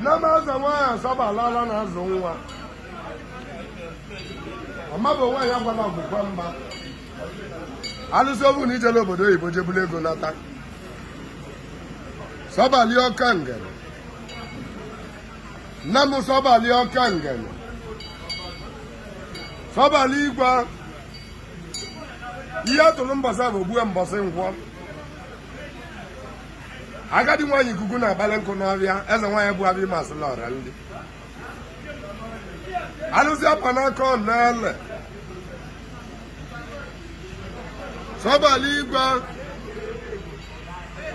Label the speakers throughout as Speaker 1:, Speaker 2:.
Speaker 1: Nne m ezenwaanyị Sọbali ala na-azụ nwa ọmabụ nwaanyị agwala ọgwụgwa mba alụsị obu na ijele obodo oyibo je bulu ego nata sọbali ọka ngene nne m sọbali ọka ngene sọbali igwe ihe atụrụ mbọsị afọ gbue mbọsị nkwọ agadi nwaanyị ikuku na-akpali nkụ n'ọfịa eze nwaanyị bụ ọmasịlị ọra ndị alụsị akwa n'aka ọ na-ele sọbali igwe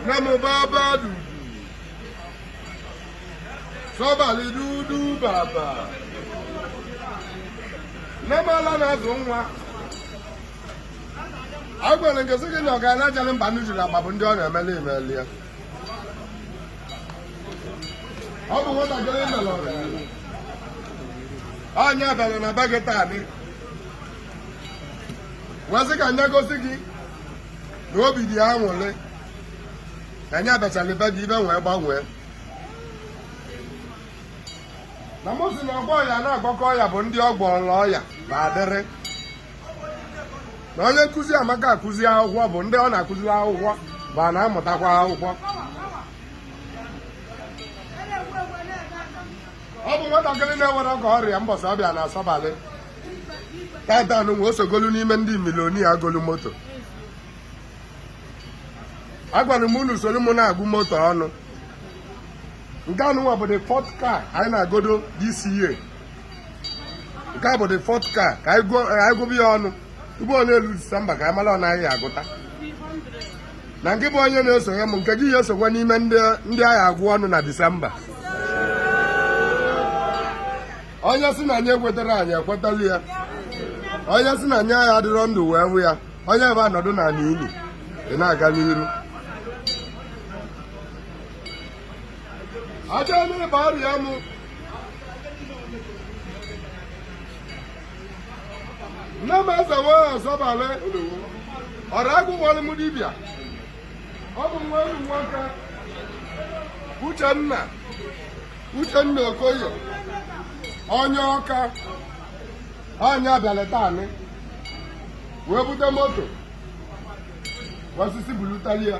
Speaker 1: na mụ baba dudu sọbali dudu baba nne m ala na-azụ nwa agwara m gị sị gị na ọgaranya achara mba nnu jiri agba bụ ndị ọ na-emeli emeli ya ọ bụ nwatakịrị mere ọgaranya onye bịara na be gị taanị wee sị ka nya gosi gị na obi dị ya aṅwụrị ka nya bịatalụ be gị ife wee gbanwee na mụ si na ọgwọ ọya na-agwọka ọya bụ ndị ọ gwọlụ ọya ba adịrị na onye nkụzi amaka akụzi akwụkwọ bụ ndị ọ na-akụziri akwụkwọ ba na-amụtakwa akwụkwọ ọ bụ nwatakịrị na-enwerọ ka ọ ra ya mbọsị ọ bịa na Sọbali tatanwa o sogolu n'ime ndị milionia golu moto agwara m unu soro m na-agụ moto ọnụ nke anụnwa bụ the fourth car anyị na-agodo this year nke a bụ the fourth car ka anyị gụba ya ọnụ ugbu a o lue disemba ka anyị mara one anyị agụta na nke bụ onye na-esonye m nke gị ya esokwa n'ime ndị a ga-agụ ọnụ na disemba onye si na anyị ekwetara anyị ekwetala ya onye si na anyị agha adịrọ ndụ wee hụ ya onye ebe anọdụ na ala ili ị na-aga n'iru achọghị m ịba ọrịa m nne m ezenwaanyị Sọbali ọrụ agụ nwere m dibịa ọ bụ nwa enyi nwoke uchenna uchenna okoye onye Ọka nya bịalị taanị wee bute moto wee sị sị bulutali ya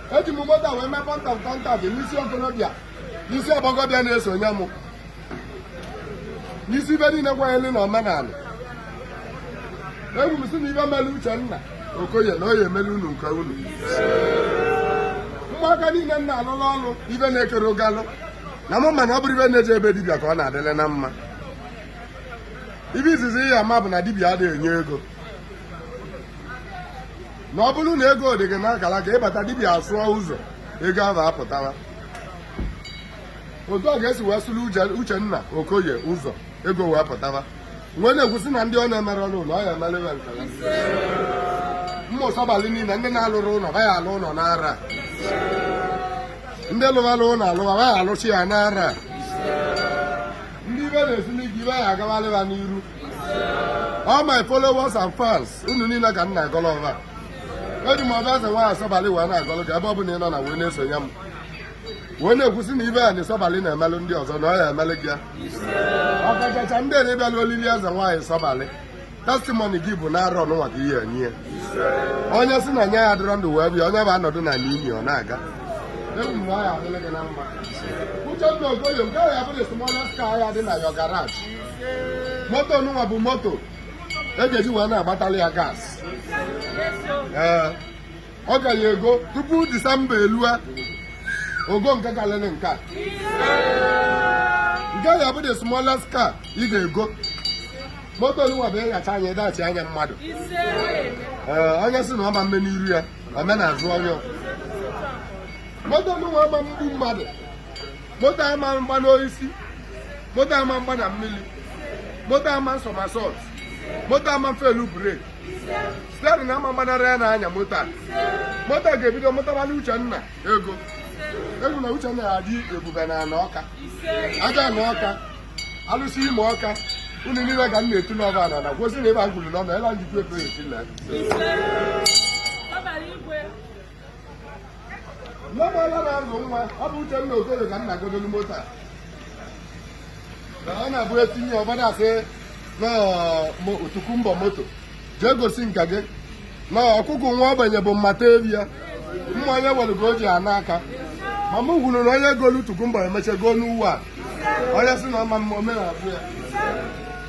Speaker 1: eji m moto wee mee point of contact n'isi okorobịa n'isi ọgbọgọbịa na-esonye m n'isi ibe niile kwanyere na omenala ekwu m si na ibe melu Uchenna Okoye na ọ ya emelu unu nke unu ụmụaka niile m na-alụlụ ọlụ ibe na-ekere ụgalụ na mụ ma na ọ bụrụ ibe na-eje ebe dibịa ka ọ na-adịle na mma ibe izizi ị ya-ama bụ na dibịa adịghị enye ego na ọ bụrụ na ego dị gị n'akara aka ị bata dibịa asụọ ụzọ ego ahụ apụtara otu ọ ga-esi wee sụrụ Uchenna Okoye ụzọ ego wee pụtara wee na-ekwusị na ndị ọ na-emere ọrụ ụlọ ọ ya emere ya nke ya ụmụ Sọbalị niile ndị na-alụrọ ụlọ ha ya alụ ụlọ n'arọ a ndị lụwara ụlọ alụwa ha ya alụchi ya n'arọ a ndị ibe na-esili ike ibe ya agawarị ha n'iru all my followers and fans unu niile ka m na-agọrọ ọba eji m ọba eze nwaanyị Sọbalị wee na-agọrọ gị ebe ọ bụla ị nọ na wee na-esonye m wee na-ekwusi na ibe a na Sọbalị na-emelụ ndị ọzọ na ọ ya emelụ gị ya ọkachacha ndị na-abịala olili eze nwaanyị Sọbalị testimony gị bụ n'arọ nụnwa ka ị ya-enye onye si na nya ya dịrọ ndụ wee bịa onye bụ anọdụ na n'imi ọ na-aga ekwu m na ọ ya adịla gị na mma Uchenna Okoye nke a ya bụ the smallest car ya-adị na your garage moto nụnwa bụ moto a ga-eji wee na-agbatali ya gas ee ọ ka ya-ego tupu disemba elue o go nke kalịrị nke a nke ya bụ the smallest car ị ga-ego moto nụnwa bụ ịghacha anya ịdachi anya mmadụ ee onye si na ọ ma mme n'iru ya o mee n'azụ onye moto nụnwa ama mgbu mmadụ moto ama mgba n'osisi moto ama mgba na mmiri moto ama somersault moto ama felu brake steering ama mgbanara ya n'anya moto a moto a ga-ebido mụtabala Uchenna ego ego na Uchenna ya adị ebube n'ana Ọka Ajana Ọka alụsị Imo Ọka unu niile ka m na-etu n'ọba na na-ekwusi na ibe e kwuru n'ọba ebe a njikwa ebe eti na Nneọmala na-azụ nwa ọ bụ Uchenna Okoye ka m na-agọdolu moto a ọ na-abụ etinye ọbada asị na ọ tokunbo moto jee gosi nka gị na ọkụkụ nwa ogbenye bụ mmata ebi ya mma onye nwere ka o ji ana aka ma m kwuru na onye golu tokunbo emechaa go new one onye si na ọ ma mme omenala ya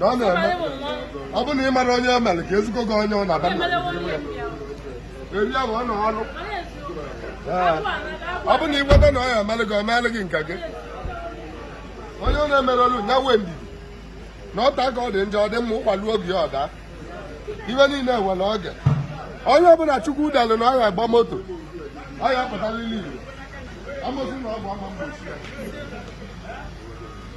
Speaker 1: na ọ na-eme ọ bụ na ị mara onye o mere ka ezigbo gị onye ọ na-aba na eri ya bụ ọ na ọrụ Ee. ọ bụ na ị kweta na ọ ya emelụ gị ọ meelụ gị nke gị onye ọ na-emere ọrụ ya wee ndidi na o tee aka ọ dị njọ ọ dị mma ụkwa luo oge ya ọ daa ihe niile nwere oge onye ọbụla Chukwu dalụ na ọ ya agba moto ọ ya apụtalili igbo amosu na ọ bụ ama egbochi ya